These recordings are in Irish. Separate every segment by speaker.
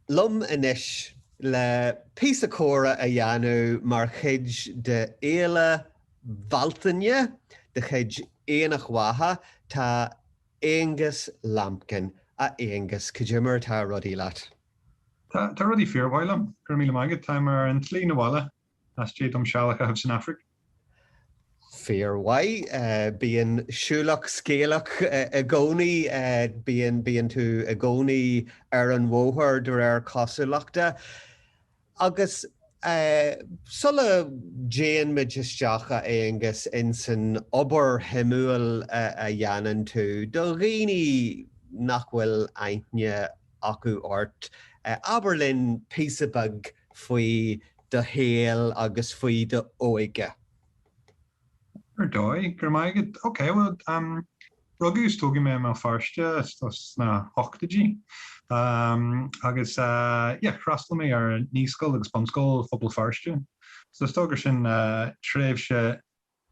Speaker 1: liom anois le píosa comhrá a dhéanamh mar chuid de Fhéile Bhealtaine de chuid Aonach Mhacha, tá Aonghas Lambkin, a Aonghas, cad é mar atá rudaí leat. Tá,
Speaker 2: tá rudaí fíor-mhaith liom, go raibh míle maith agat. Táim ar an tslí 'na bhaile, as déidh dom seal a chaitheamh san Afraic. Fíor-mhaith.
Speaker 1: Bíonn siúlach scéalach i gcónaí. Bíonn, bíonn tú i gcónaí ar an bhóthar, de réir cosúlachta. Agus sula dtéann muid isteach, a Aonghas, insan obair shuimiúil a dhéanann tú, do dhaoine nach bhfuil aithne acu ort, abair linn píosa beag faoi do shaol agus faoi d'óige.
Speaker 2: Ar dóigh. Go raibh maith agat. Ok, bhuel, rugadh is tógadh mé i mBéal Feirste istigh sna hochtaidí agus yeah, d'fhreastail mé ar naíscoil agus bunscoil Phobal Feirste so is dóigh gur sin tréimhse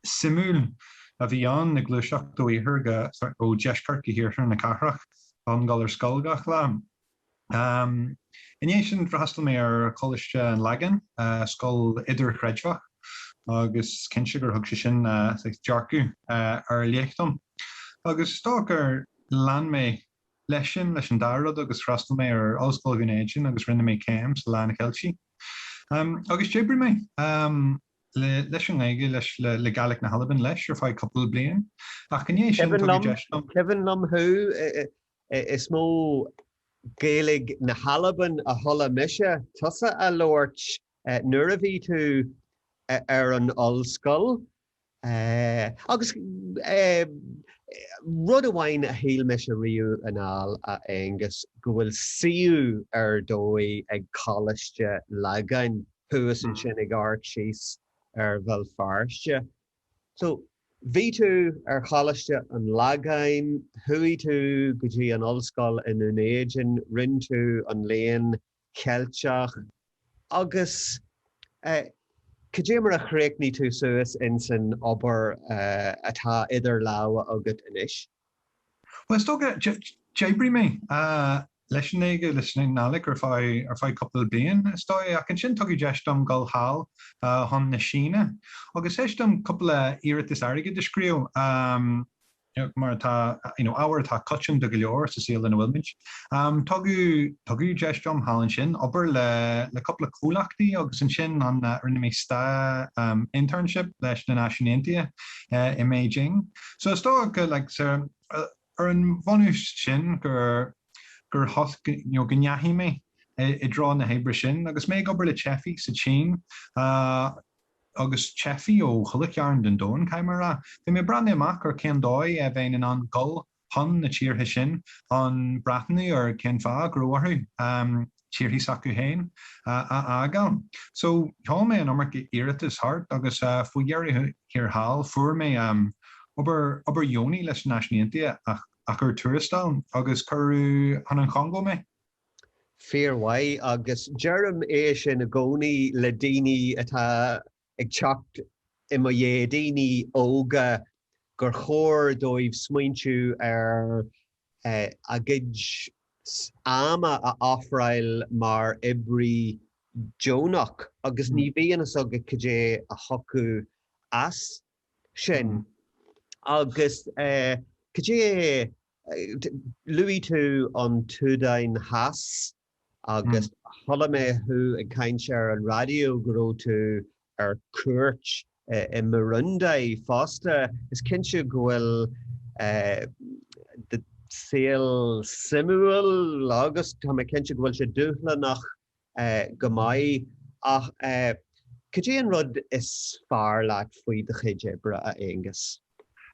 Speaker 2: suimiúil a bhí ann ag gluaiseacht ó iarthar go, sorry, ó deisceart go hiarthar na cathrach, chun dul ar scoil gach lá. I ndiaidh sin, d'fhreastail mé ar Choláiste an Lagáin, scoil idirchreidmheach, agus is cinnte gur thug sé sin saghas dearcadh ar leith dom. Agus is dócha gur lean mé leis sin leis an dá rud agus d'fhreastail mé ar Ollscoil Dhún Éideann agus rinne mé céim sa Léann Ceilteach. Agus d'oibrigh mé leis an nGaeilge leis le Gaeilge na hAlban leis ar feadh cúpla bliain. Ach i ndiaidh sin, tugadh deis dom. Cuimhin liom
Speaker 1: thú Is mó Gaeilge na hAlban a chuala mise tusa á labhairt nuair a bhí tú ar an ollscoil. Agus rud amháin a shíl mise riamh anall, a Aonghas, go bhfuil suíomh ar dóigh ag Coláiste Lagáin thuas ansin ag amharc síos ar Bhéal Feirste. So, bhí tú ar Choláiste an Lagáin, chuaigh tú go dtí an ollscoil i nDún Éideann, rinn tú an Léann Ceilteach, agus eh, cad é mar a chríochnaigh tú suas insan obair atá idir lámha agat anois? Bhuel,
Speaker 2: is dócha, d'oibrigh mé leis an nGaeilge, leis an nGaidhlig ar feadh cúpla bliain, is dóigh, ach ansin tugadh deis dom dul thall chun na Síne agus théis dom cúpla iarratas airgid a scríobh, mar atá, you know, ábhar atá coitianta go leor sa saol ina bhfuilmid. Tugadh deis dom thall ansin obair le cúpla comhlachtaí agus ansin rinne mé sta, internship, leis na Náisiúin Aontaithe i mBeijing. So is dócha go, like, so, ar an bhunús sin gur, gur thos, you know, go ndeachaigh mé i, i dtreo na hoibre sin agus mé ag obair le teifigh sa tSín uh agus teifigh ó chuile chearn den domhan, caithfidh mé a rá. Bhí mé ag breathnú amach ar cén dóigh a bheinn in ann dhul chun na tíortha sin chun breathnú ar cén fáth go raibh orthu um, tíortha s'acu féin a fhágáil. So, sheol mé an iomarca iarratas thart agus faoi dheireadh thiar thall fuair mé obair, obair dheonach leis na Náisiúin Aontaithe ach ar tuarastal, agus cuireadh chun an Chongó mé.
Speaker 1: Fíormhaith, agus deirim é sin i gcónaí le daoine atá ag teacht i mo dhiaidh, daoine óga gur chóir dóibh smaointiú ar a gcuid ama a ofráil mar oibrí deonach agus ní bhíonn a fhios agat cad é a thiocfadh as sin. Agus cad é, luaigh tú an tSúdáin Theas. agus chuala mé thú ag caint ar an raidió go raibh tú ar cuairt i mBurundi fosta. Is cinnte go bhfuil do saol suimiúil agus tá mé cinnte go bhfuil sé dúshlánach go maith. Ach cad é an rud is fearr leat faoi do chuid oibre, a Aonghus?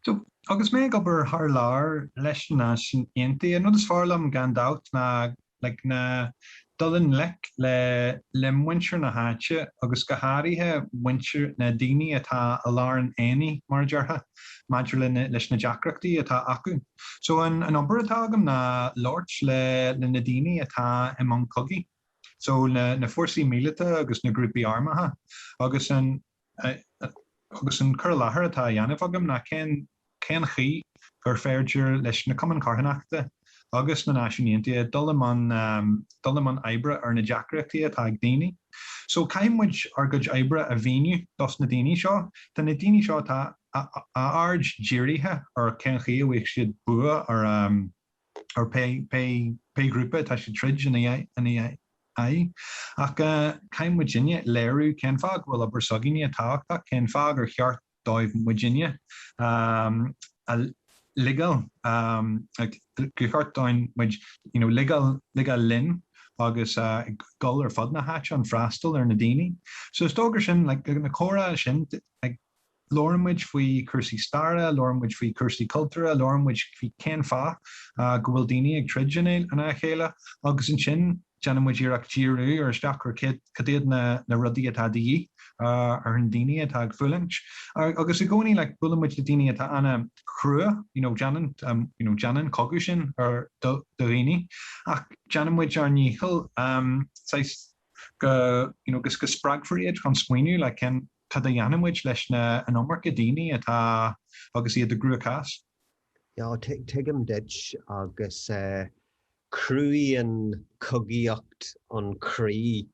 Speaker 2: So, agus mé ag obair thar lear leis na Náisiúin Aontaithe, an rud is fearr liom, gan dabht, ná like ná dul i ngleic le le muintir na háite agus go háirithe muintir, na daoine atá i lár an aonaigh, mar a déarfá, maidir le leis na deacrachtaí atá acu. So an an obair atá agam ná labhairt le le na daoine atá i mbun cogaidh, so na na fórsaí míleata agus na grúpaí armtha, agus an. Agus an cur i láthair atá á dhéanamh agam ná cén chaoi gur féidir leis na cumainn charthanachta agus na Náisiúin Aontaithe dul i mbun, dul i mbun oibre ar na deacrachtaí atá ag daoine. So, caithfidh muid ár gcuid oibre a mhíniú dos na daoine seo. Tá na daoine seo atá a aird dírithe ar cén chaoi a bhfaighidh siad bua ar ar pé pé ghrúpa atá siad ag troid ina ina aghaidh. Ach caithfidh muidinne léiriú cén fáth go bhfuil obair s'againne tábhachtach, cén fáth gur cheart dóibh muidinne a ligeáil gur cheart dúinn muid you know ligeáil ligeáil linn agus ag dul ar fud na háite chun freastal ar na daoine. So is dócha sin like na comhráite sin like, Labhraíonn muid faoi chúrsaí staire, labhraíonn muid faoi chúrsaí cultúrtha, labhraíonn muid faoi cén fáth go bhfuil daoine ag troid in aghaidh a chéile agus ansin déanann muid iarracht díriú ar isteach ar cad iad na rudaí atá de dhíth ar na daoine atá ag fulaingt agus i gcónaí like buaileann muid le daoine atá an-chrua you know déanann you know déanann cogadh sin do dhaoine ach déanann muid ár ndícheall um, saghas, go you know go spreagfar iad chun smaoineamh like cén Cad a dhéanfaidh muid leis na an iomarca daoine atá agus iad i gcruachás?
Speaker 1: Yeah, tuigim duit, agus cruann cogaíocht an croí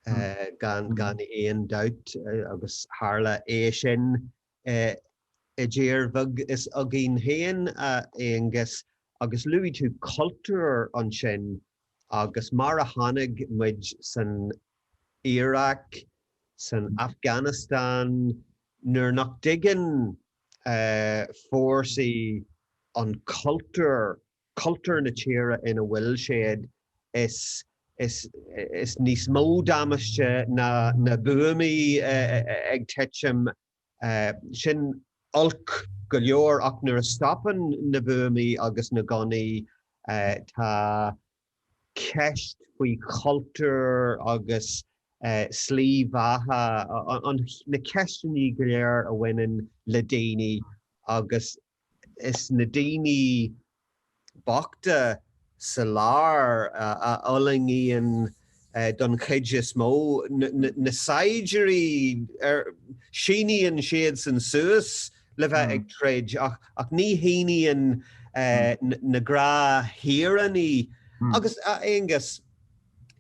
Speaker 1: gan aon dabht, agus tharla sé sin i dtír bheag seo againn féin, a Aonghuis, agus luaigh tú cultúr ansin Agus mar a chonaic muid san Iaráic, san Afganastáin, nuair nach dtuigeann fórsaí an cultúr, cultúr na tíre ina bhfuil siad, is níos mó damáiste ná na buamaí ag titim Sin olc go leor, ach nuair a stopann na buamaí agus na gunnaí, tá ceist faoi chultúr agus slí bheatha, na ceisteannaí go léir a bhaineann le daoine agus, Is na daoine bochta sa lár a fhulaingíonn don chuid is mó. Na saighdiúirí, síníonn siadsan suas le bheith ag troid, ach ní shíníonn na gnáth-shaoránaigh. Agus, a Aonghus,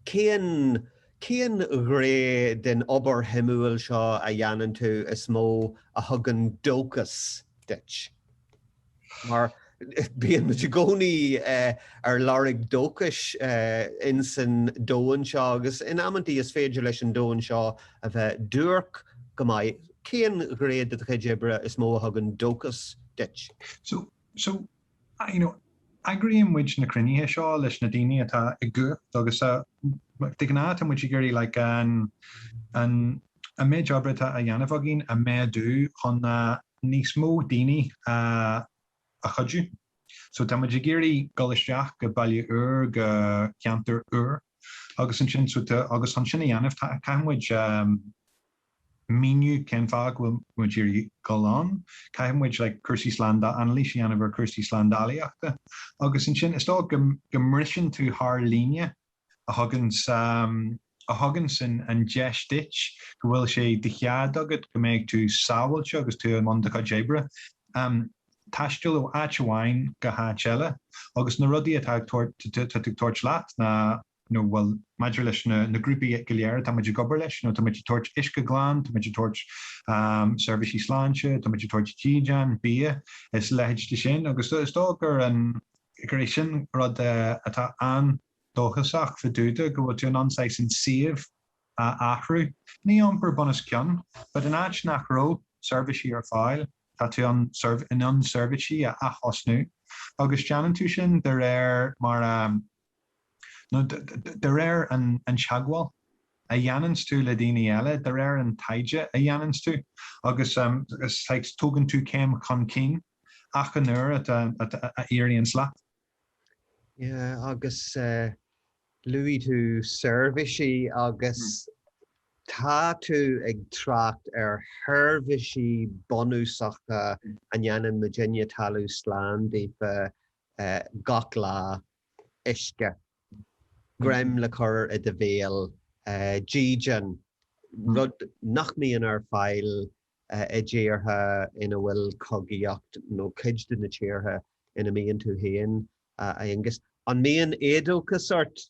Speaker 1: cén cén ghné den obair shuimiúil seo a dhéanann tú is mó a thugann dóchas? duit. Mar bíonn muid i gcónaí ar lorg dóchais insan domhan seo agus in amanntaí is féidir leis an domhan seo a bheith duairc go maith. Cén ghné de do chuid oibre is mó a thugann dóchas duit?
Speaker 2: you know eagraíonn muid na cruinnithe seo leis na daoine atá i gcumhacht agus de ghnáth tá muid ag iarraidh like an an an méid oibre atá á dhéanamh againn a mhéadú chun a níos mó daoine a a chuidiú so tá muid ag iarraidh dul isteach go baile úr go ceantar úr agus ansin so agus sin a dhéanamh tá caithfidh muid míniú cén fáth go bhfuil muid ag iarraidh dul ann, caithfidh muid like cúrsaí slánda, anailís a dhéanamh ar chúrsaí slándálaíochta agus ansin is dóigh go mbriseann tú thar líne a thugann sa, a thugann sa an deis duit go bhfuil sé de chead agat go mbeidh tú sábháilte agus tú i mbun do chuid oibre, em taisteal ó áit amháin go háit eile agus na rudaí atá ag tabhairt, atá tú ag tabhairt leat ná. bhfuil maidir leis na grúpaí go léir atá muid ag obair leis, tá muid ag tabhairt uisce glan, tá muid ag tabhairt seirbhísí sláinte, tá muid ag tabhairt dídean, bia is a leithéid de sin agus is dóigh gur é sin rud atá an-dóchasach fá dtaobh de, go bhfuil tú in ann saghas an suíomh a athrú, ní iompar bunoscionn, but in áit nach raibh seirbhísí ar fáil, tá tú in ann seirbhísí a ath-thosnú agus déanann tú sin de réir mar a nó de réir an teagmháil a dhéananns tú le daoine eile, de réir an taighde a dhéananns tú agus tugann tú céim chun cinn achan uair a éiríonns leat.
Speaker 1: Yeah agus luaigh tú seirbhísí agus tá tú ag trácht ar sheirbhísí bunúsacha a ndéanann muidinne talamh slán daofa gach lá. uisce. greim le cur i do bhéal. dídean, rud nach mbíonn ar fáil i dtíortha ina bhfuil cogaíocht, nó cuid de na tíortha ina mbíonn tú féin, a Aonghus. An mbíonn éadóchas ort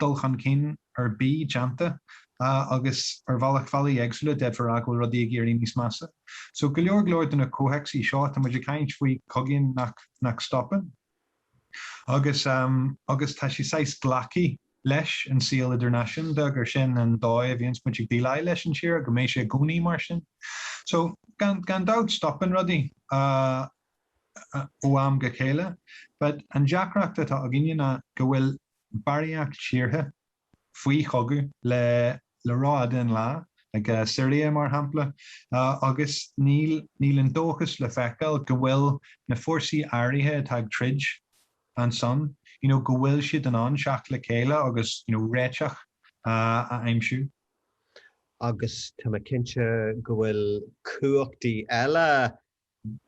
Speaker 2: dul chun cinn ar bith déanta agus ar bhealach faillíonn éagsúla d'fhéadfá a rá go bhfuil rudaí ag éirí níos measa. So go leor go leor de na comhthéacsaí seo tá muid ag caint faoi cogaí nach nach stopann agus agus tá sé saghas glactha leis an saol idirnáisiúnta gur sin an dóigh a bhíonns muid ag déileáil leis an tír go mbeidh sé i gcónaí mar sin. So gan gan dabht stopann rudaí. ó am go chéile. But an deacracht atá againne ná go bhfuil barraíocht tíortha faoi chogadh le ró-fhada an lá, like Siria mar shampla, agus níl an dóchas le feiceáil go bhfuil na fórsaí áirithe atá ag troid ansan, you know, go bhfuil siad in ann teacht le chéile agus, you know, réiteach a aimsiú. Agus
Speaker 1: tá mé cinnte go bhfuil cumhachtaí eile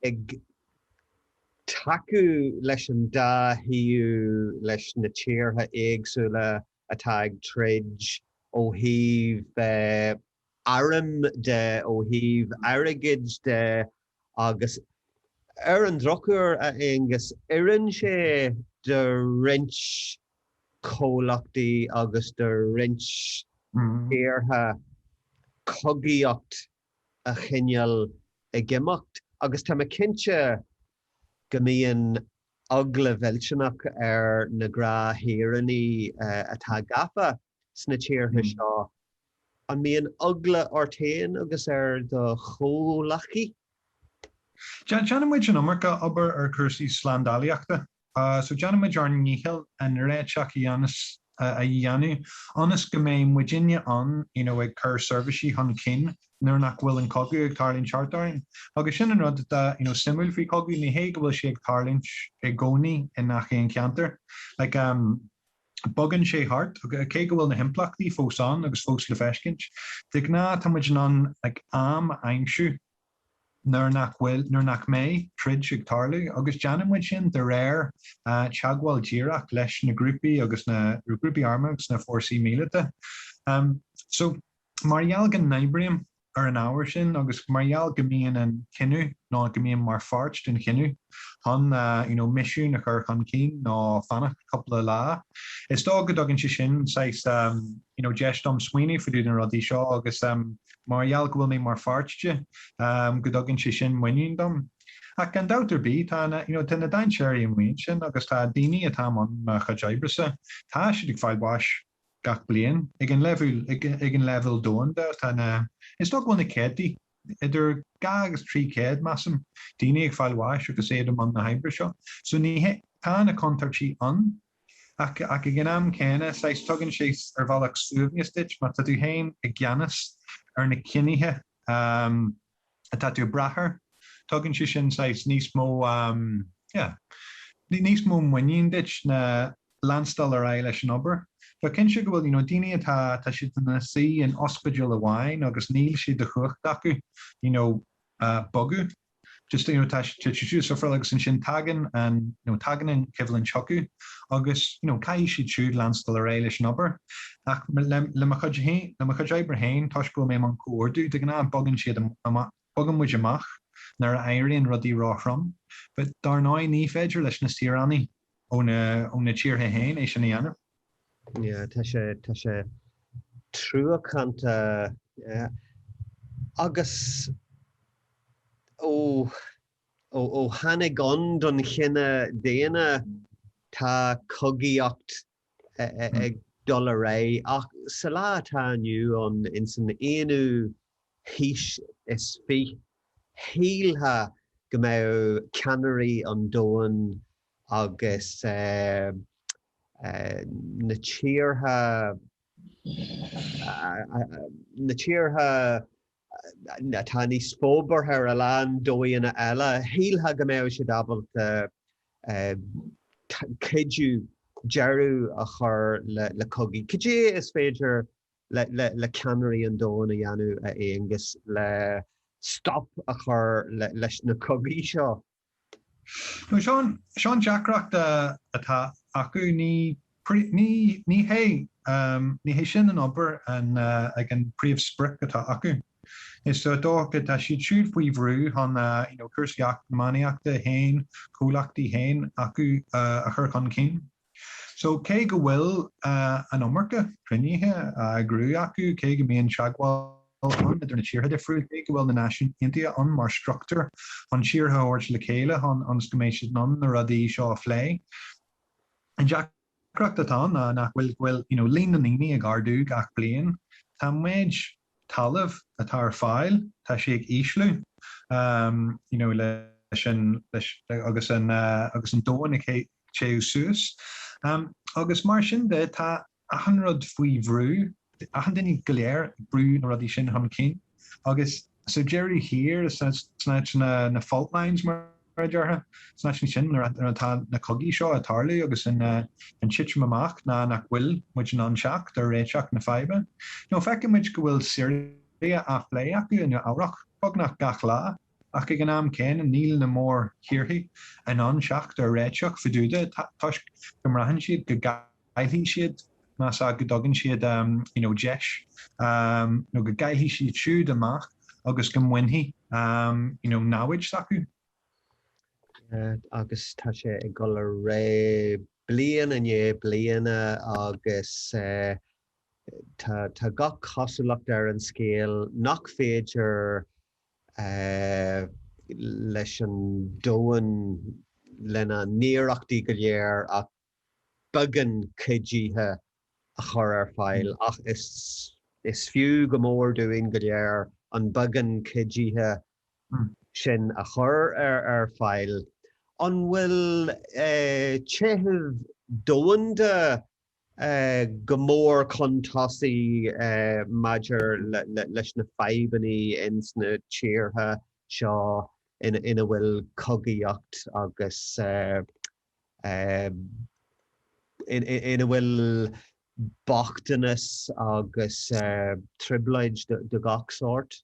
Speaker 1: ag tacú leis an dá thaobh leis na tíortha éagsúla atá ag troid ó thaobh airm de, ó thaobh airgid de agus ar an drochuair, a Aonghus, oireann sé do roinnt comhlachtaí agus do roinnt tíortha cogaíocht a choinneáil ag imeacht agus tá mé cinnte go mbíonn eagla mhillteanach ar na gnáthshaoránaigh atá gafa sna tíortha seo. An mbíonn eagla ort féin agus ar do chomhghleacaithe?
Speaker 2: Déanann muid an iomarca obair ar chúrsaí slándálaíochta. So déanfaimid ár ndícheall an réiteach a dhéanamh ionas go mbeidh muidinne ann you know ag cur seirbhísí chun cinn nuair nach bhfuil an cogadh ag tarlúint thart orainn. Agus sin an rud atá you know suimiúil faoi chogadh, ní hé go bhfuil sé ag tarlúint i gcónaí i ngach aon cheantar. Like um bogann sé thart cé go bhfuil na himpleachtaí fós ann agus fós le feiscint. De ghnáth tá muid in ann like am a aimsiú. nuair nach bhfuil, nuair nach mbeidh, troid ag tarlú. Agus déanann muid sin de réir teagmháil díreach leis na grúpaí agus na, grúpaí armtha agus na fórsaí míleata. So, mar gheall go n-oibrím ar an ábhar sin agus mar gheall go mbíonn an cinneadh, nó go mbíonn mar pháirt den chinneadh chun, you know, misiún a chur chun cinn nó fanacht cúpla lá, is dóigh go dtugann sé sin saghas, you know, deis dom smaoineamh faoi na rudaí seo agus, Mar gheall go bhfuil mé mar pháirt de, go dtugann sé sin muinín dom. Ach gan dabht ar bith, tá na, you know, tá na dainséirí amuigh ansin agus tá daoine atá i mbun mo chuid oibre-sa, tá siad ag fáil bháis gach bliain, ag an, ag an leibhéal domhanda tá na, is dóigh go bhfuil na céadtaí, idir dhá agus trí chéad, measaim, daoine ag fáil bháis agus iad i mbun na hoibre seo. So ní hé, tá na contúirtí ann. Ach ag an am céanna, saghas, tugann sé ar bhealach suaimhneas duit, má tá tú féin i gceannas ar na cinnithe atá tú ag brath air, tugann sé sin saghas níos mó, yeah, níos mó muinín duit ná leanstan ar aghaidh leis an obair. But cinnte go bhfuil, you know, daoine atá, tá siad ina suí in ospidéal amháin agus níl sé de chumhacht acu, you know, bogadh. Just, you know, tá siad ag suffaráil agus ansin tagann an, you know, tagann an choimhlint chucu agus, you know, caithfidh siad siúd leanstan ar aghaidh leis an obair. Ach le, le mo chuid fhéin, le mo chuid oibre féin, toisc go bhfuil mé i mbun comhordú, de ghnáth bogann siad amach, bogann muid amach nuair a éiríonn rudaí ró-throm. But dar ndóigh ní féidir leis na saoránaigh ó na, ó na tíortha fhéin é sin a dhéanamh. Tá
Speaker 1: sé, tá sé truacánta agus ó, ó, ó tháinig ann don chine daonna tá cogaíocht ag dul ar aghaidh ach sa lá atá inniu ann, ins an aonú haois is fiche, shílfeá go mbeadh ceannairí an domhain agus, eh, na tíortha, na tíortha atá níos forbartha ar a lán dóigheanna eile, shílfeá go mbeadh siad ábalta cuidiú deireadh a chur le cogaí. Cad é is féidir le ceannairí an domhain a dhéanamh, a Aonghus, le stop a chur leis na cogaí seo?
Speaker 2: Is é an deacracht atá acu, ní hé sin an obair ná an príomhsprioc atá acu. Is dócha tá siad siúd faoi bhrú chun cúrsaí eacnamaíochta féin, comhlachtaí féin acu a chur chun cinn. So, cé go bhfuil an iomarca cruinnithe á eagrú acu, cé go mbíonn teagmháil ann idir na tíortha difriúla, cé go bhfuil na Náisiúin Aontaithe ann mar struchtúr chun tíortha a thabhairt le chéile chun ionas go mbeidh siad in ann na rudaí seo a phlé, an deacracht atá ann ná nach bhfuil, go bhfuil, you know, líon na ndaoine ag ardú gach bliain. Tá méid talamh atá ar fáil, tá sé ag ísliú you know leis an leis agus an agus an domhan ag téamh suas agus mar sin de tá achan rud faoi bhrú, achan duine go léir ag brú na rudaí sin chun cinn agus sa deireadh thiar is sna háiteanna na fault lines mar a déarfá, is sna háiteanna sin atá na cogaí seo ag tarlú agus an titim amach ná nach bhfuil muid in ann teacht ar réiteach na faidhbe. Nó feiceann muid go bhfuil Siria á phlé acu i Nua Eabhrac beagnach gach lá, ach ag an am céanna níl na mórthíortha in ann teacht ar réiteach fá dtaobh de toisc go mbraitheann siad go gcaillfidh siad, más ea go dtugann siad you know deis nó go gcaillfidh siad siúd amach agus go mbainfidh you know namhaid s'acu.
Speaker 1: agus tá sé ag dul ar aghaidh bliain i ndiaidh bliana agus tá tá gach cosúlacht ar an scéal nach féidir leis an domhan lena n-iarrachtaí go léir ach beagán cuidithe a chur ar fáil ach is is fiú go mór dúinn go léir an beagán cuidithe sin a chur ar fáil. An bhfuil téamh domhanda go mór chun tosaigh maidir leis na fadhbanna ins na tíortha seo ina bhfuil cogaíocht agus ina bhfuil bochtanas agus trioblóid de gach sórt.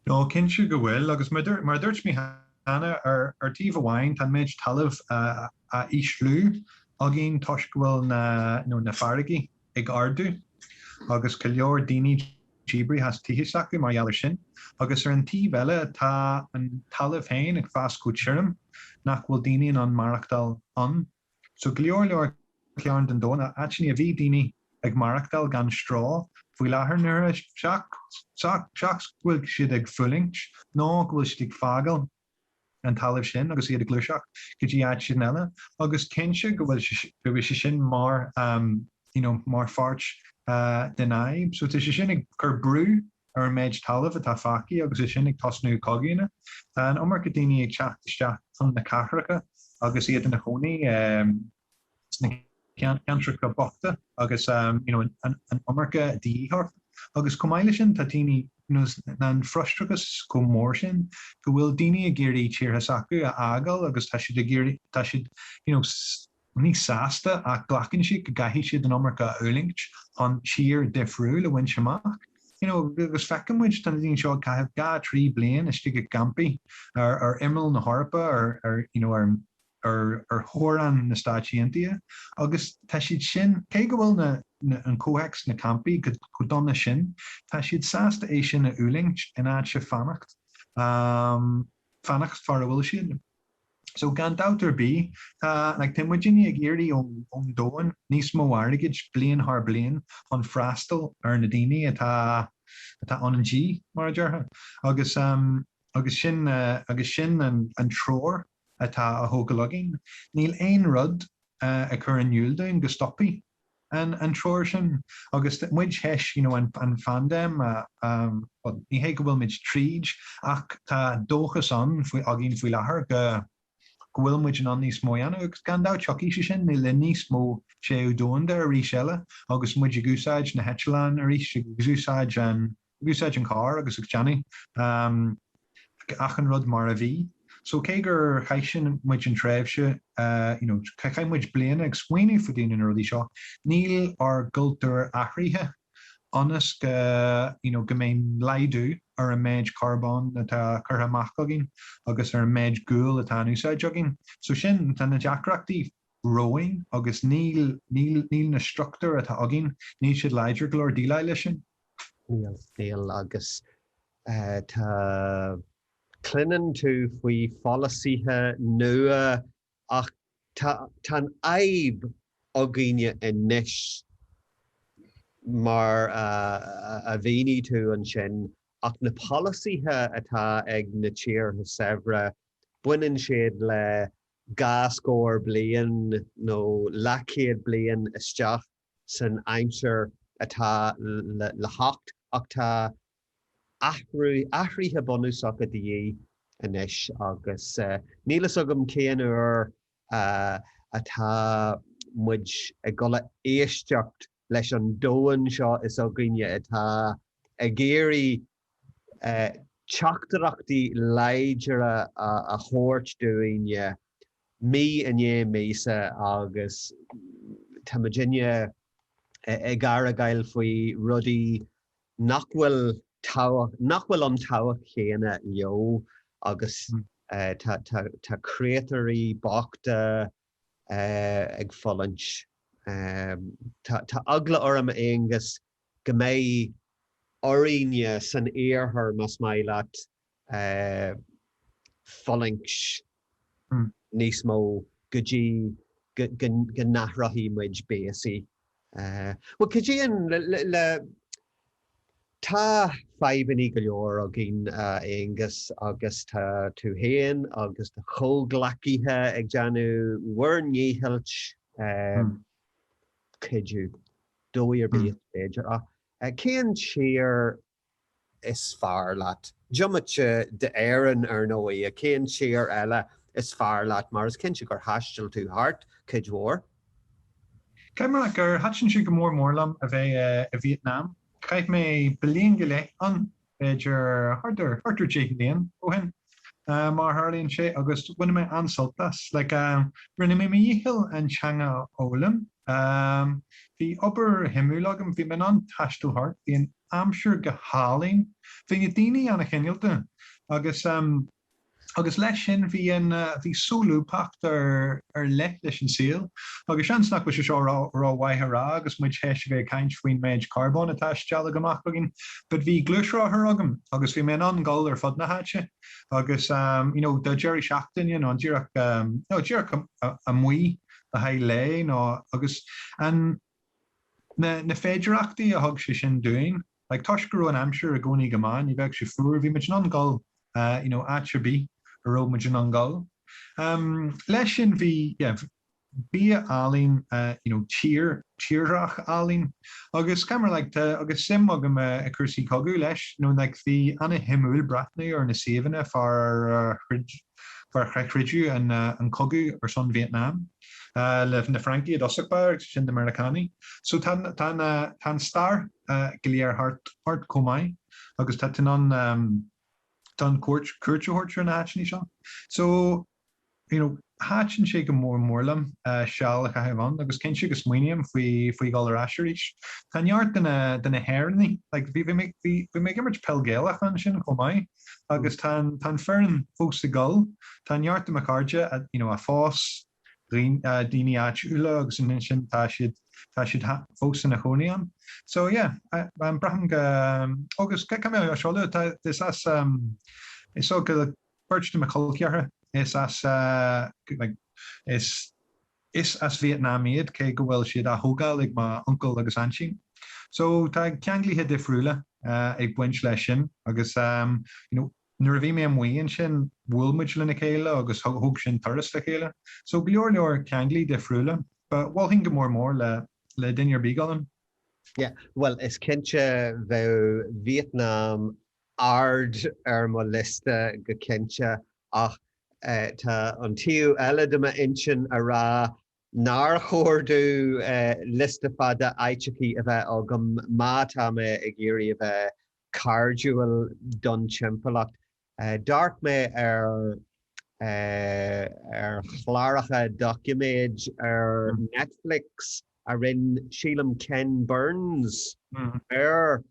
Speaker 2: Nó cinnte go bhfuil, agus mar a dúirt mé cheana, ar taobh amháin tá an méid talamh á ísliú againn toisc go bhfuil na farraigí. ag ardú agus go leor daoine díbrithe as tithe s'acu mar gheall ar sin. Agus ar an taobh eile tá an talamh féin ag fás chomh tirim nach bhfuil daoine in ann maireachtáil ann. So go leor leor cearn den domhan, áiteanna a bhí daoine ag maireachtáil gan stró faoi láthair nuair, seachas go bhfuil siad ag fulaingt nó go bhfuil siad ag fágáil. an talamh sin agus iad ag gluaiseacht go dtí áiteanna eile agus cinnte go bhfuil go bhfuil sé sin mar you know mar pháirt den fhadhb so tá sé sin ag cur brú ar an méid talamh atá fágtha agus é sin ag tosnú cogaíonna tá an iomarca daoine ag teacht isteach chun na cathracha agus iad ina chónaí eh. sna ceantracha bochta agus an iomarca dífhostaíocht. Agus chomh maith le sin, tá daoine, nó tá an frustrachas chomh mór sin go bhfuil daoine ag iarraidh tíortha s'acu a fhágáil agus tá siad ag iarraidh, tá siad you know ní sásta ach glacann siad go gcaithfidh siad an iomarca a fhulaingt chun tír difriúil a bhaint amach. You know agus feiceann muid, tá na daoine seo ag caitheamh dhá, trí bliain istigh i gcampaí ar imeall na hEorpa ar you know ar an ar theorainn na Stáit Aontaithe agus tá siad sin, cé go bhfuil na, an comhthéacs sna campaí chomh dona sin, tá siad sásta é sin a fhulaingt in áit fanacht, fanacht san áit a bhfuil siad. So gan dabht ar bith, tá, like, tá muidinne ag iarraidh ón, ón domhan níos mó airgid bliain thar bliain chun freastal ar na daoine atá, atá ina ngá, mar a déarfá. Agus. Agus sin an treoir atá á thógáil againn. Níl aon rud ag cur in iúl dúinn go stopfaidh an treoir sin. Agus muid tar éis an phaindéim, bhuel, ní hé go bhfuil muid tríd, ach tá dóchas ann againn faoi láthair go bhfuil muid in ann níos mó a dhéanamh. Agus gan dabht, tiocfaidh sé sin, le linn níos mó téamh domhanda arís eile, agus muid ag úsáid na heitleáin arís, ag úsáid an. Ag úsáid an carr agus ag déanamh achan rud mar a bhí. So cé gur chaith muid an tréimhse, you know, chaith muid bliain ag smaoineamh fá dtaobh de na rudaí seo, níl ár gcultúr athraithe ionas go, you know, go mbeidh laghdú ar an méid carbón atá curtha amach againn agus ar an méid guail atá in úsáid againn. So sin, tá na deacrachtaí romhainn agus níl, níl, níl na struchtúir atá againn, níl siad láidir go leor déileáil leis sin. Níl,
Speaker 1: níl, agus tá, cluineann tú faoi pholasaithe nua ach tá, tá an fhadhb againne anois, mar a mhínigh tú ansin, ach na polasaithe atá ag na tíortha saibhre, baineann siad le dhá scór bliain nó leathchéad bliain isteach. san aimsir atá le theacht ach tá athrú, athruithe bunúsacha de dhíth anois agus níl fhios agam cén uair atá muid ag dul a éisteacht leis an domhan seo is againne atá ag iarraidh teachtaireachtaí láidre a thabhairt dúinne mí i ndiaidh míosa agus tá muidinne ag argáil faoi rudaí nach bhfuil tábhacht, nach bhfuil an tábhacht chéanna leo agus tá creatúirí bochta ag fulaingt. Tá eagla orm, Aonghus, go mbeidh orainne san iarthar, más maith leat, fulaingt níos mó go dtí go n-athróchaidh muid béasaí. Bhuel, cuidíonn le, Tá fadhbanna go leor againn, a Aonghus, agus tá tú féin agus do chomhghleacaithe ag déanamh bhur ndícheall. cuidiú, dóigh ar bith is féidir ach cén tír is fearr leat? Diomaite d'Éirinn, ar ndóigh, cén tír eile is fearr leat mar is cinnte gur thaistil tú thart cuid mhór?
Speaker 2: Caithfidh mé a rá gur thaitin sé go mór mór liom a bheith i Vítneam, chaith mé bliain go leith ann b'fhéidir thart ar thart ar 10 mbliain ó shin, mar a tharlaíonn sé, agus bhain mé an-sult as. Like, rinne mé mo dhícheall an teanga a fhoghlaim. Bhí obair shuimiúil agam, bhí mé in ann taisteal thart, bhí an aimsir go hálainn, bhí na daoine an-chineálta, agus. agus leis sin bhí solúbthacht ar leith leis an saol, agus seans nach bhfuil sé seo rómhaith a rá agus muid théis a bheith ag caint faoin méid carbóin atá ag stealladh amach againn, but bhí gluaisrothar agam agus bhí mé in ann gul ar fud na háite agus you know do deiridh seachtaine nó díreach nó díreach amuigh le haghaidh lae nó agus an na féidireachtaí a thug sé sin dúinn. like toisc go raibh an aimsir i gcónaí go maith, ní bheadh sé fuar, bhí muid in ann gul eh you know áit ar bith a raibh muid in ann gul. Em leis sin bhí yeah bia álainn eh you know tír tírdhreach álainn agus caitheamar like tá agus suim agam eh i gcúrsaí cogaidh leis you know like bhí ana-shuimiúil breathnú ar na suíomhanna fár ar a throid inar troideadh an eh an cogadh ar son Vietnam eh le na Francaigh i dtosach agus ansin na Meiriceánaigh so tá tá na tá an stair go léir thart chomh maith agus tá tú in ann don chuairt cuairt a thabhairt ar na háiteanna seo. So, you know, thaitin sé go mór mór liom seal a chaitheamh ann agus cinnte go smaoiním faoi faoi dhul ar ais arís. Tá neart de na de na hÉireannaigh, like bhí mé bhí mé ag imirt peil Gaelach ansin chomh maith agus tá an tá an foireann fós ag dul. Tá neart de mo chairde a you know a phós daoine áitiúla agus ansin tá siad tá siad fós ina chónaí ann. So yeah braithim go agus cad mé á seoladh tá is as is so go beirt de mo chol ceathracha is as like is is as Vietnam iad cé go bhfuil siad á thógáil ag mo uncail agus aintín. So tá ceanglaithe difriúla ag baint leis sin agus you know Nuair a bhí mé amuigh ansin, bhuail muid lena chéile agus thug sinn turas le chéile. So, go leor leor ceanglaí difriúla. Mholfainn go mór mór le le duine ar bith dul ann. Yeah,
Speaker 1: bhuel, is cinnte bheadh Vietnam ard ar mo liosta go cinnte, ach tá an taobh eile de m'intinn ag rá nár chóir domh liosta fada áiteachaí a bheith agam má tá mé ag iarraidh a bheith cairdiúil don timpeallacht. D'amharc mé ar ar chláracha doiciméid ar Netflix a rinne, sílim, Ken Burns ar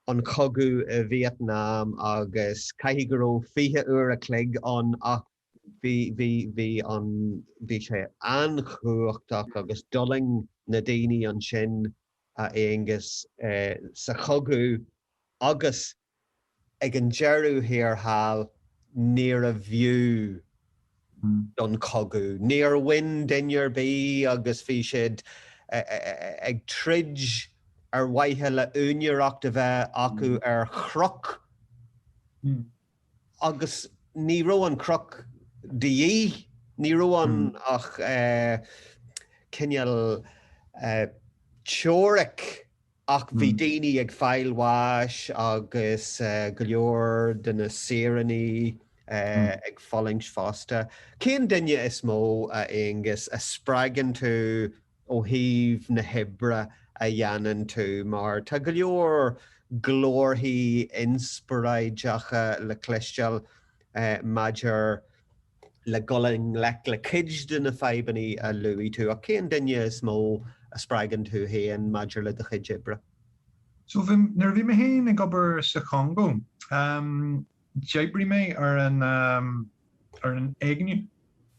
Speaker 1: an chogadh i Vietnam agus caithfidh go raibh 20 uair a chloig ann ach bhí sé an-chumhachtach agus d'fhulaing na daoine ansin, a Aonghus, sa chogadh agus ag an deireadh thiar thall níorbh fhiú don chogadh. Níor bhain duine ar bith agus bhí siad ag troid ar mhaithe le úinéireacht a bheith acu ar chnoc. agus ní raibh an cruc de dhíth, ní raibh ann ach cineál teoiric ach bhí daoine ag fáil bháis agus go leor de na saoránaigh ag fulaingt fosta. Cén duine is mó, a Aonghus, a spreagann tú ó thaobh na hoibre a dhéanann tú mar tá go leor glórthaí inspioráideacha le cloisteáil maidir le dul i ngleic le cuid de na fadhbanna a luaigh tú ach cén duine is mó a spreagann tú féin maidir le do chuid oibre? So
Speaker 2: nuair a bhí mé féin ag obair sa Chongó, d'oibrigh mé ar an éigniú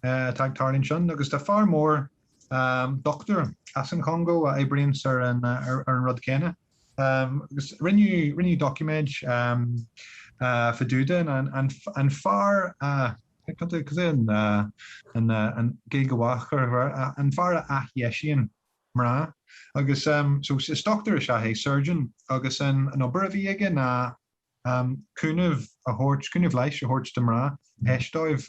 Speaker 2: atá ag tarlú ansin agus tá fear mór dochtúir as an Chongó a oibríonns ar an rud céanna, agus rinneadh doiciméad fadúda an fear a athdheisíonn mná agus so is dochtúir is ea é, surgeon, agus an obair a bhí aige ná, cúnamh a thabhairt, cúnamh leighis a thabhairt do mhná th'éis dóibh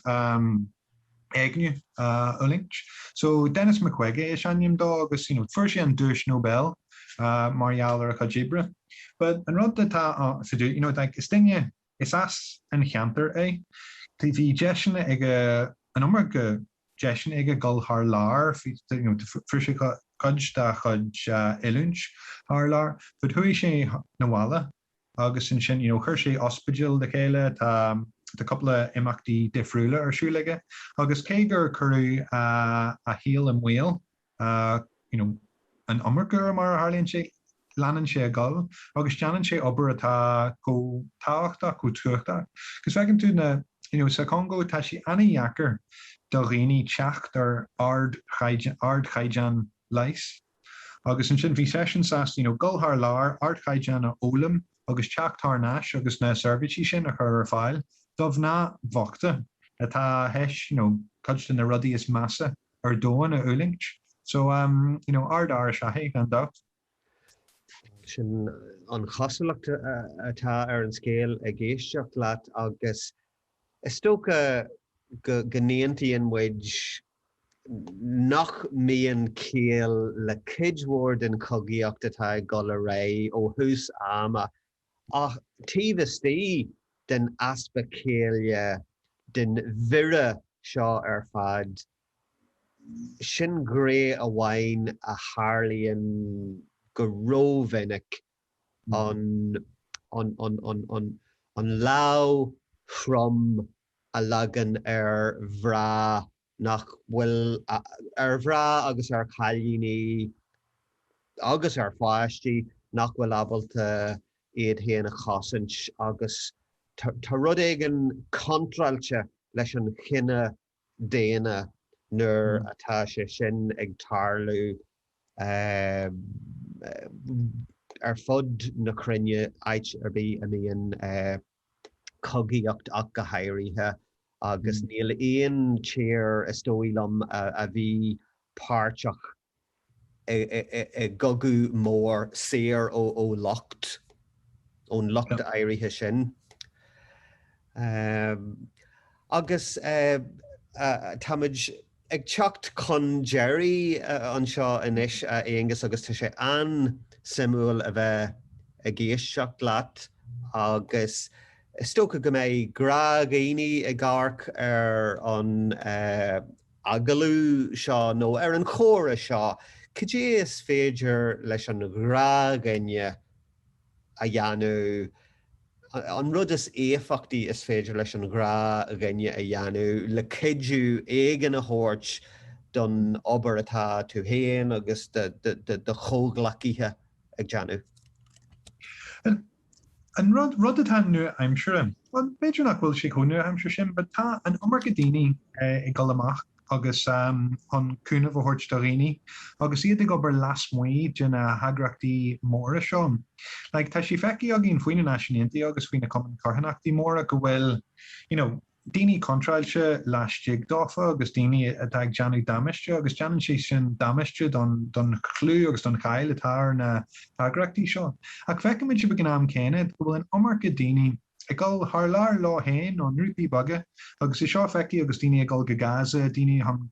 Speaker 2: éigniú a fhulaingt. So, Denis Mukwege is ainm dó agus you know fuair sé an duais Nobel mar gheall ar a chuid oibre. But an rud atá ann, you know like is duine, is as an cheantar é, bhí deiseanna aige, an iomarca deiseanna aige dul thar lear, you know fuair sé cuid dá chuid oiliúint thar lear, but chuaigh sé 'na bhaile. agus ansin you know chuir sé ospidéal le chéile, tá tá cúpla imeachtaí difriúla ar siúl aige agus cé gur cuireadh a shaol i mbaol you know an iomarca uair mar a tharlaíonn sé, leanann sé ag dul agus déanann sé obair atá chomh tábhachtach, chomh tábhachtach agus feiceann tú na you know sa Chongó tá sé ana-dheacair do dhaoine teacht ar ardchaighdeán leighis. Agus ansin bhí seisean sásta you know dul thar lear, ardchaighdeán a fhoghlaim agus teacht thar n-ais agus na seirbhísí sin a chur ar fáil do mhná bhochta atá th'éis you know cuid de na rudaí is measa ar domhan a fhulaingt. So um you know ardfhear is ea é, gan dabht.
Speaker 1: Sin an chosúlacht atá ar an scéal ag éisteacht leat agus is dócha go n-aontaíonn muid nach mbíonn ciall le cuid mhór den chogaíocht atá ag dul ar aghaidh ó thús ama, ach taobh istigh den easpa céille, den mhire seo ar fad, sin gné amháin a tharlaíonn go ró-mhinic, an lámh throm a leagan ar mhná nach bhfuil ar mhná agus ar chailíní agus ar pháistí nach bhfuil ábalta iad féin a chosaint agus tá rud éigin contráilte leis an chine daonna nuair atá sé sin ag tarlú ar fud na cruinne áit ar bith a mbíonn cogaíocht ach go háirithe, agus níl aon tír, is dóigh liom, a bhí páirteach i gcogadh mór saor ó locht, ón locht áirithe sin. Agus táimid ag teacht chun deiridh anseo anois, a Aonghus, agus tá sé an-suimiúil a bheith ag éisteacht leat, agus is dócha go mbeidh gnáthdhaoine ag amharc ar an agallamh seo, nó ar an chomhrá seo. Cad é is féidir leis an ghnáthdhuine a dhéanamh. An rud is éifeachtaí is féidir leis an ghnáthdhuine a dhéanamh le cuidiú éigin a thabhairt don obair atá tú féin agus do do chomhghleacaithe ag
Speaker 2: déanamh. An rud atá nua-aimseartha, bhuel, b'fhéidir nach bhfuil sé chomh nua-aimseartha sin, but tá an iomarca daoine ag dul amach, agus chun cúnamh a thabhairt do dhaoine agus iad ag obair lasmuigh de na heagraíochtaí móra seo. Like, tá sé feicthe againn faoi na Náisiúin Aontaithe agus faoi na cumainn carthanachta móra go bhfuil you know daoine contráilte laistigh dófa agus daoine atá ag déanamh damáiste agus déanann sé sin damáiste don chlú agus don cháil atá ar na heagraíochtaí seo. Ach feicimid ag an am céanna go bhfuil an iomarca daoine Ag dul thar lear leo féin, i ngrúpaí beaga. Agus é seo feicthe agus daoine ag dul go Gaza, daoine chun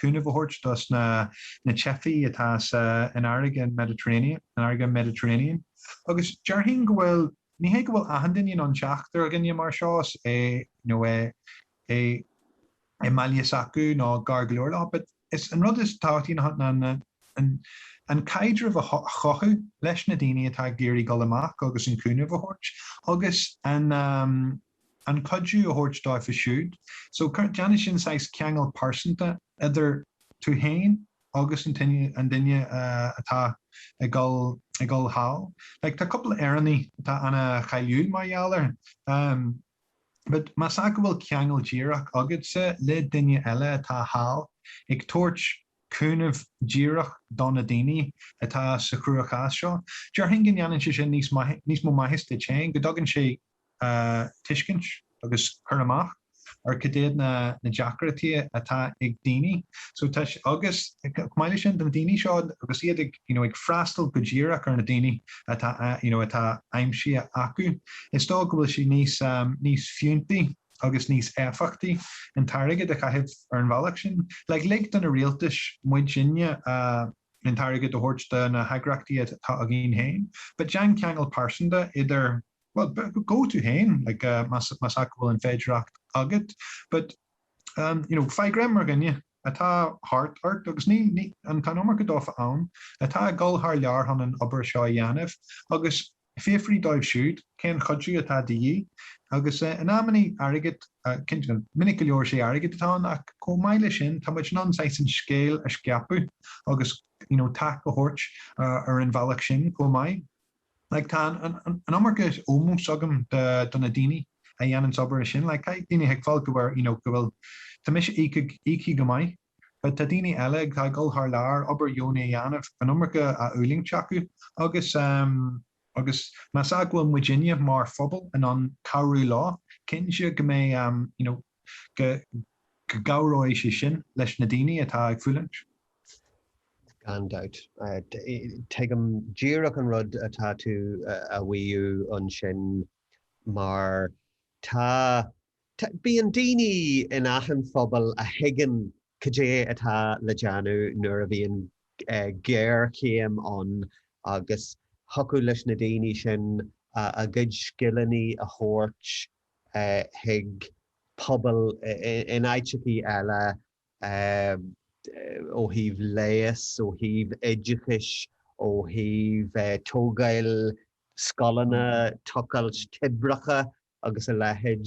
Speaker 2: cúnamh a thabhairt dos na teifigh atá sa an fharraige an Mediterranean, an fharraige Mediterranean. Agus déarfainn go bhfuil, ní hé go bhfuil achan duine in ann teacht ar dhuine mar seo, is é, you know, eh, é i mbaile s'acu nó gar go leor leo. But is é an rud is tábhachtaí ná an caidreamh a chothú leis na daoine atá ag iarraidh dul amach agus an cúnamh a thabhairt agus an cuidiú a thabhairt dóibh siúd. So déanann sin saghas ceangal pearsanta idir tú féin agus an duine atá ag dul thall. Like tá cúpla Éireannaigh atá ana cháiliúil mar gheall air. But más ea go bhfuil ceangal díreach agatsa le duine eile atá thall, ag tabhairt cúnamh díreach do na daoine atá sa chruachás seo, déarfainn go ndéanann sé sin níos maith, níos mó maitheas duit féin, go dtugann sé tuiscint agus cur amach ar cad iad na na deacrachtaí atá ag daoine. So tá sé, agus chomh maith leis sin, do na daoine seo agus iad ag. you know ag freastal go díreach ar na daoine atá you know atá aimsithe acu, is dóigh go bhfuil sé níos níos fiúntaí agus níos éifeachtaí an t-airgead a chaitheamh ar an bhealach sin. Like lig do na rialtais, muidinne, a an t-airgead a thabhairt do na heagraíochtaí atá againn féin but déan ceangal pearsanta idir well tú féin like más más ea go bhfuil an féidireacht agat but um you know faigh greim ar dhuine atá thart ort, agus tá an iomarca dófa ann, atá ag dul thar lear chun an obair seo a dhéanamh, agus fiafraigh dóibh siúd cén cuidiú atá de dhíth. Agus in amannaí, airgead. Cinnte, minic go leor sé airgead atá ann, ach chomh maith leis sin, tá muid in ann saghas an scéal a scaipeadh agus you know tac a thabhairt ar an bhealach sin chomh maith. like, tá an iomarca ómóis agam do do na daoine a dhéananns an obair sin, like, tá daoine ag fáil go bhfuir, you know, go bhfuil, tá mise íoctha, íoctha go maith, but tá daoine eile ag, atá ag dul thar lear, obair dheonach a dhéanamh, an iomarca á fhulaingt acu agus, ehm, agus más ea go bhfuil muidinne mar phobal in ann cabhrú leo, cinnte go mbeidh, ehm, you know, go gcabhróidh sé sin leis na daoine atá ag fulaingt.
Speaker 1: Gan dabht. Tuigim díreach an rud atá tú a mhaíomh ansin mar tá, tá, bíonn daoine in achan phobal a thuigeann cad é atá le déanamh nuair a bhíonn géarchéim ann agus thiocfadh leis na daoine sin a gcuid scileanna a thabhairt chuig pobail in áiteachaí eile ó thaobh leighis, ó thaobh oideachais, ó thaobh tógáil scoileanna, tochailt toibreacha agus a leithéid.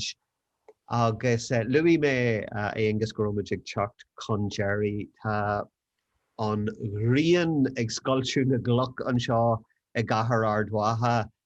Speaker 1: Agus luaigh mé, a Aonghus, go raibh muid ag teacht chun deiridh. Tá an ghrian ag scoilteadh na gcloch anseo i gcathair Ard Mhacha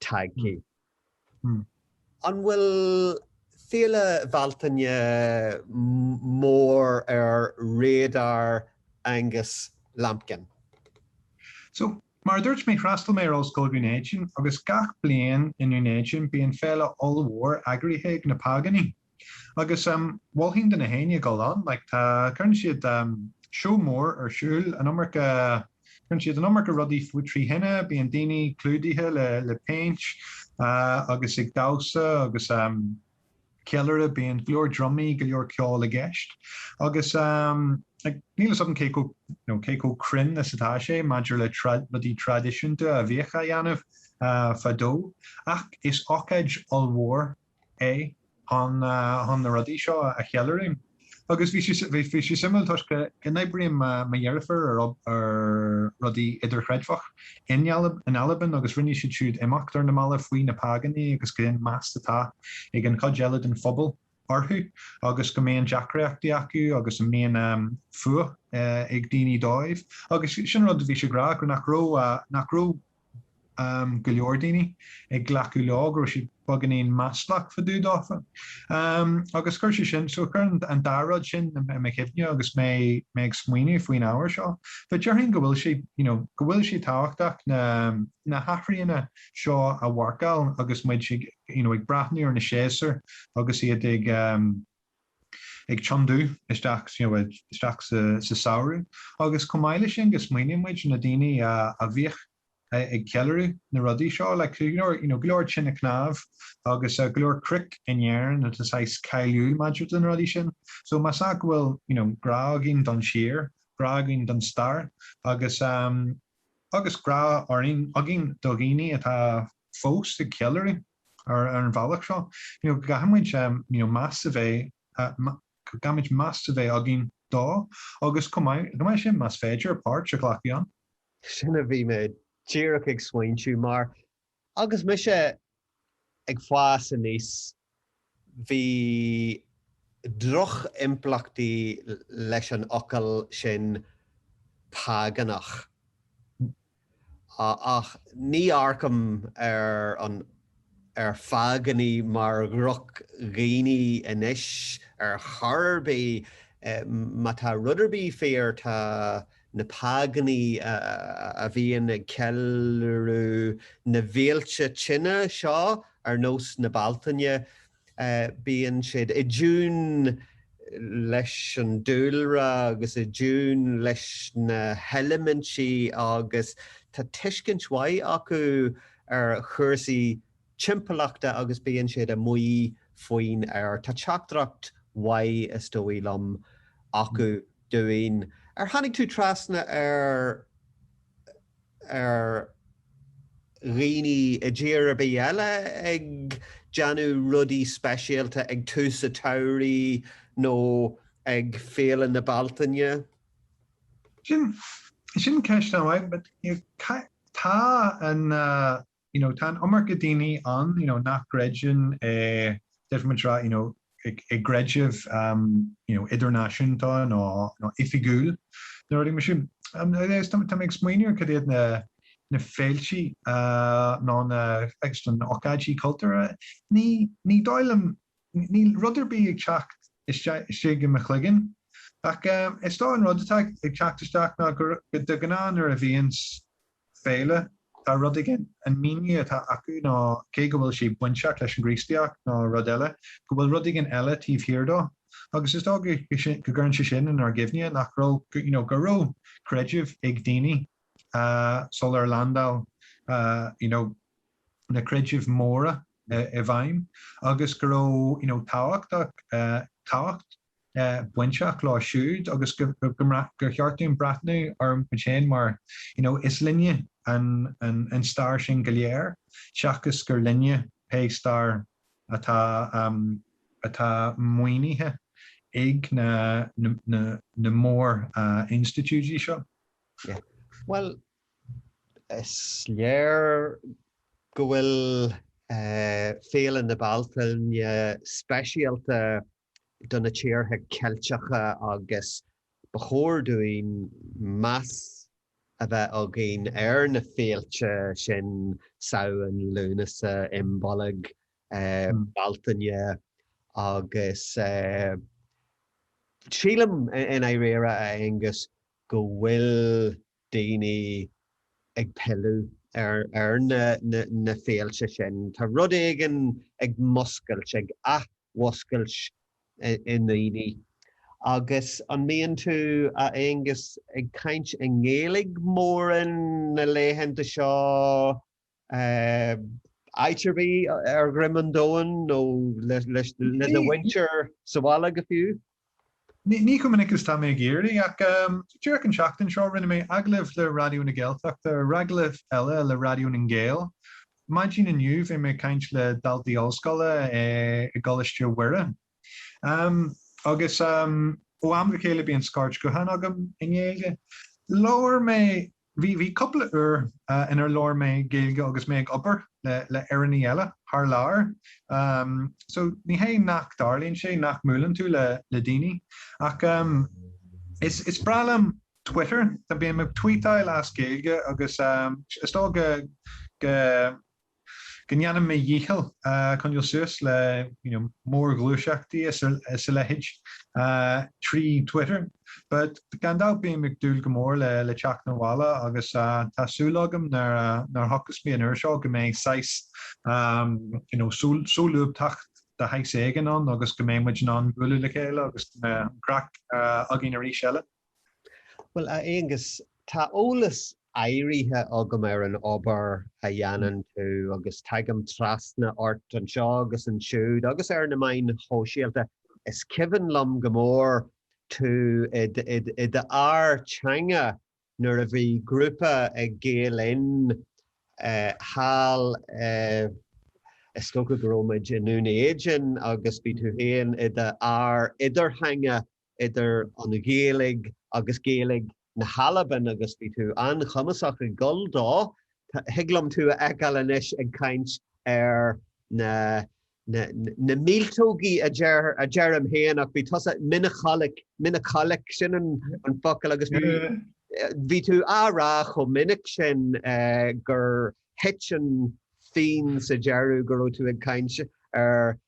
Speaker 1: tagtha. An bhfuil Féile Bhealtaine mór ar radar Angus
Speaker 2: Lambkin? So, mar a dúirt mé, threastal mé ar Ollscoil Dhún Éideann, agus gach bliain i nDún Éideann bíonn féile ollmhór eagraithe ag na Págánaigh. Agus mholfainn do na héinne dul ann, like tá, cuireann siad seó mór ar siúl, an iomarca, cuireann siad an iomarca rudaí trí thine, bíonn daoine clúdaithe le, le paint agus ag damhsa agus ceiliúradh, bíonn go leor drumaí, go leor ceol i gceist. Agus like níl 'fhios a'm cé chomh, you know, cé chomh cruinn is atá sé maidir le rudaí traidisiúnta a bhíodh á dhéanamh fadó ach is ocáid ollmhór é chun na rudaí seo a cheiliúradh. Agus bhí sé suimiúil toisc go n-oibríonn mo dheirfiúr ar rudaí idirchreidmheach in Albain agus rinne siad siúd imeacht ar na mallaibh faoi na págánaigh agus cén meas atá ag an chuid eile den phobal orthu agus go mbíonn deacraíochtaí acu agus an mbíonn fuath ag daoine dófa agus sin rud a bhí siad ag rá nach raibh go leor daoine ag glacadh leo go raibh siad beagáinín maslach fá dtaobh dófa. Agus chuir sé sin, so chuir an dá rud sin i mo chuimhne agus mé mé ag smaoineamh faoin ábhar seo. But déarfainn go bhfuil sé, you know, go bhfuil sé tábhachtach na na hathruithe seo a mharcáil agus muid ag, you know, ag breathnú ar na séasúir agus iad ag, ag tiontú isteach you know isteach sa sa samhradh agus chomh maith leis sin go smaoiníonn muid ar na daoine a a bhíodh ag ceiliúradh na rudaí seo like so you know you know go leor tinte cnámh agus go leor cnoic in Éirinn atá saghas cáiliúil maidir do na rudaí sin so más ea go bhfuil you know grá againn don tír grá againn don stair agus um agus grá orainn againn do dhaoine atá fós ag ceiliúradh Ar an bhealach seo, go gcaithfimid meas a bheith, go gcaithfimid meas a bheith againn dófa agus chomh maith leis sin, más féidir, páirt a ghlacadh ann. Sin a
Speaker 1: bhí mé díreach ag smaointiú, mar agus mise ag fás aníos Bhí drochimpleachtaí leis an fhocal sin 'págánach', ach ní amharcaim ar ar 'phágánaigh' mar dhrochdhaoine anois ar chor ar bith. Má tá rud ar bith fíor, tá. na págani a bhíonn ag ceiliúradh na bhféilte tine seo ar nós na Bealtaine, bíonn siad i dtiún leis an dúlra agus i dtiún leis na heilimintí agus tá tuiscint mhaith acu ar chúrsaí timpeallachta agus bíonn siad amuigh faoin aer. Tá teachtaireacht mhaith, is dóigh liom, acu dúinn. Ar tháinig tú trasna ar ar dhaoine i dtír ar bith eile ag déanamh rudaí speisialta ag tús an tsamhraidh nó ag Féile na Bealtaine?
Speaker 2: Sin sin ceist an-mhaith. Tá an. You know, tá an iomarca daoine ann, you know, nach gcreideann i definitely, you know, i gcreideamh, um, you know, idirnáisiúnta nó oifigiúil, nó rudaí mar sin. Um, I guess, tá mé ag smaoineamh cad iad na, na féiltí, uh, nó na, I guess, na hócáidí cultúrtha. Ní, ní dóigh liom, níl rud ar bith ag teacht isteach, istigh i mo chloigeann. Ach, um, is dócha an rud atá ag teacht isteach ná gur, de ghnáth nuair a bhíonns, féile. Tá rud éigin, an míniú atá acu ná, cé go bhfuil sé bainteach leis an gCríostaíocht nó rud eile, go bhfuil rud éigin eile taobh thiar dó. Agus is dócha go gcuireann sé sin inár gcuimhne nach raibh, you know, go raibh creideamh ag daoine sular leaindeáil, you know, na creidimh mhóra i bhfeidhm agus go raibh, you know, tábhachtach, tábhacht. bainteach leo siúd agus go gur cheart dúinn breathnú orthu féin mar you know is linne an stair sin go léir seachas gur linne pé stair atá atá maoinithe ag na na mórinstitiúidí seo. Yeah.
Speaker 1: Bhuel, is léir go bhfuil Féile na Bealtaine speisialta do na tíortha Ceilteacha agus ba chóir dúinn meas a bheith againn ar na féilte sin, Samhain, Lúnasa, Imbolg, Bealtaine agus sílim, in Éirinn, a Aonghus, go bhfuil. daoine ag pilleadh ar na féilte sin. Tá rud éigin ag múscailt, ag athmhúscailt i ndaoine. Agus an mbíonn tú, a Aonghus, ag caint i nGaeilg mórán na laethanta seo? áit ar bith ar dhroim an domhain nó le do mhuintir sa bhaile go fiú. Ní
Speaker 2: chomh minic is ba mhaith liom ach díreach an seachtain seo rinne mé agallamh le Raidió na Gaeltachta agus agallamh eile le Raidió na nGael. Maidin inniu bhí mé ag caint le daltaí ollscoile i gColáiste Mhuire. Agus ó am go chéile bíonn scairt gutháin agam i nGaeilge. Labhair mé Bhí cúpla uair inar labhair mé Gaeilge agus mé ag obair le Éireannaigh eile thar lear so ní hé nach dtarlaíonn sé nach mbuaileann tú le daoine ach is breá liom Twitter, tá, bím ag tweetáil as Gaeilge agus is dócha go go ndéanann mé mo dhícheall coinneáil suas le you know mórghluaiseachtaí is a leithéid trí Twitter but gan dabht bím ag dúil go mór le teacht 'na bhaile agus tá súil agam nuair a thiocfas mé an uair seo go mbeidh saghas you know solúbthacht de shaghas éigin ann agus go mbeidh muid in ann bualadh le chéile agus go mbeidh an craic againn arís eile. Bhuel,
Speaker 1: a Aonghus, tá eolas áirithe agam ar an obair a dhéanann tú agus tagaim trasna ort anseo agus ansiúd agus ar na meáin shóisialta. Is cuimhin liom go mór tú i d'fhear teanga nuair a bhí grúpa ag Gael Linn thall, is dócha go raibh muid i nDún Éideann, agus bhí tú féin i d'fhear idirtheanga idir an Ghaeilge agus Gaeilge na hAlban agus bhí tú an-chumasach ag dul dó, thig liom tú a fheiceáil anois ag caint ar na, na, na míoltógaí a deir, a deirim féin ach bhí tusa, meanbhchuileag, meanbhchuileag, sin an, an focal agus bhí, bhí tú á rá chomh minic sin gur thit an phingin sa deireadh go raibh tú ag caint ar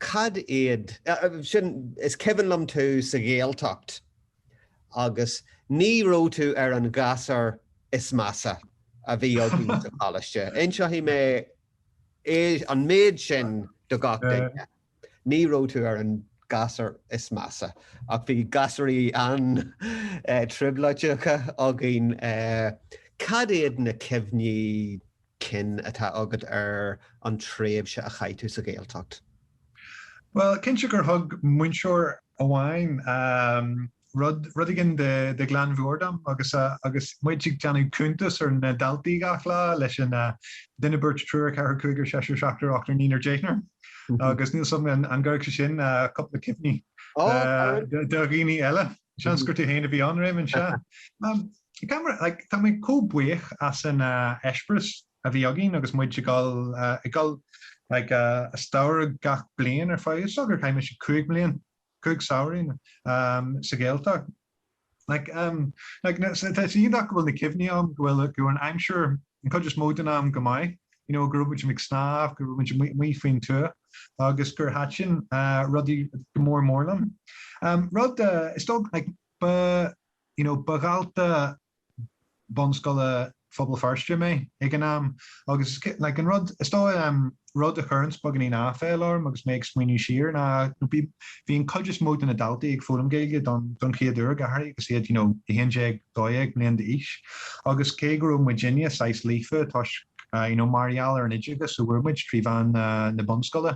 Speaker 1: Cad iad. Sin, is cuimhin liom tú sa Ghaeltacht agus ní raibh tú ar an ghasúr is measa a bhí againn sa choláiste. Inseoidh mé an méid sin do gach duine, ní raibh tú ar an ghasúr is measa ach bhí gasúraí an-trioblóideacha againn. Cad iad na cuimhní. cinn atá agat ar an tréimhse a chaith tú sa Ghaeltacht?
Speaker 2: Bhuel, cinnte gur thug múinteoir amháin rud éigin de ghlan mheabhair dom agus muid ag déanamh cuntas ar na daltaí gach lá, leis an duine beirt triúr ceathrar cúigear seisear seachtar ochtar naonar deichniúr. Agus níl a fhios agam an gcuirfeadh sé sin cúpla cuimhne do dhaoine eile. Seans gur tú féin a bhí ann, Réamonn, sea. Tá mé, like, tá mé comh buíoch as an eispéireas a bhí againn agus muid ag dul, ag dul, like, i samhradh gach bliain ar feadh, is dócha gur chaith muid cúig bliain, cúig samhraidh, sa Ghaeltacht. Like, like, tá sé iontach go bhfuil na cuimhní ann go bhfuil, go bhfuil an aimsir an chuid is mó den am go maith you know go raibh muid amuigh ag snámh, go raibh muid amuigh faoin tuath agus gur thaitin an rud go mór mór liom. Rud is dócha like ba you know ba dhalta bunscoile Phobal Feirste mé ag an am agus like an rud is dócha rud a chuireanns beagainín aiféala orm agus mé ag smaoineamh siar ná you know bhí an cuid is mó de na daltaí ag foghlaim Gaeilge don don chéad uair go háirithe agus iad you know a haon déag, dó dhéag bliain d'aois agus cé go raibh muidinne saghas líofa toisc ah you know mar gheall ar an oideachas a fuair muid trí mheán na na bunscoile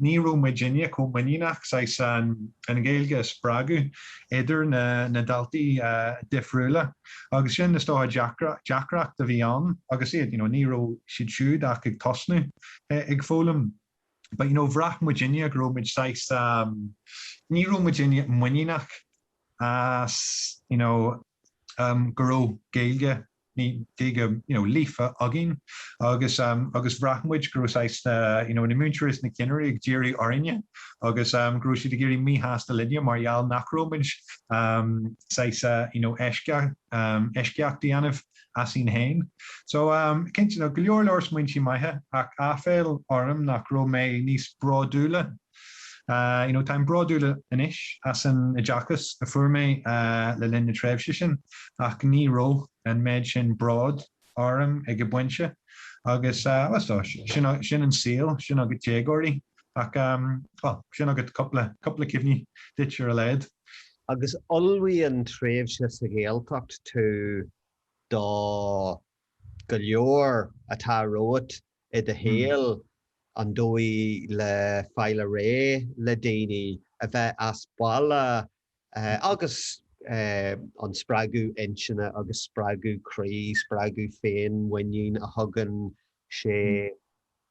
Speaker 2: ní raibh muidinne chomh muiníneach saghas an an Ghaeilge a spreagadh idir na na daltaí ah difriúla. Agus sin is dócha deacracht a bhí ann agus iad, you know, ní raibh siad siúd ach ag tosnú ag foghlaim but you know bhraith muidinne go raibh muid saghas um ní raibh muid muiníneach as you know um go raibh Gaeilge nó Gaeilge you know líofa againn agus um agus bhraith muid go raibh saghas na you know na múinteoirí is na cinnirí ag díriú orainne agus go raibh siad ag éirí míshásta linne mar gheall nach raibh muid saghas you know eisceacht a dhéanamh asainn féin. So cinnte tá go leor leor smaointe maithe ach aiféala orm nach raibh mé níos bródúla you know táim bródúil anois as an oideachas a fuair mé le linn na tréimhse sin ach ní raibh an méid sin bród orm ag an bpointe agus sin an saol, sin agat déagóirí ach sin agat cúpla cuimhne duit ar a laghad. Agus
Speaker 1: ullmhaíonn tréimhse sa Ghaeltacht tú do go leor atá romhat i do shaol, an dóigh le fáil réidh le daoine, a bheith as baile agus an spreagadh intinne agus spreagadh croí, spreagadh féinmhuinín a thugann sé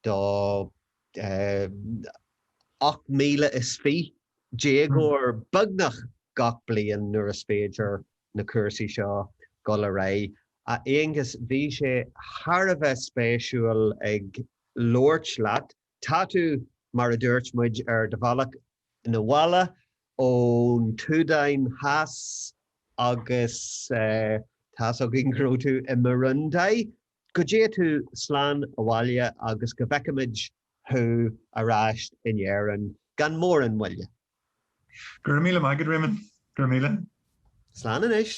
Speaker 1: do 28,000 déagóir beagnach gach bliain nuair is féidir na cúrsaí seo dul ar aghaidh. A Aonghuis, bhí sé thar a bheith spéisiúil ag labhairt leat. Tá tú, mar a dúirt muid, ar do bhealach 'na bhaile ón tSúdáin Theas agus tá's againn go raibh tú i mBurundi. Go dtéigh tú slán abhaile agus go bhfeicfimid thú ar ais in Éirinn gan mórán
Speaker 2: moille. Go raibh míle maith agat,
Speaker 1: Réamonn. Go
Speaker 2: raibh míle.
Speaker 1: Slán
Speaker 2: anois.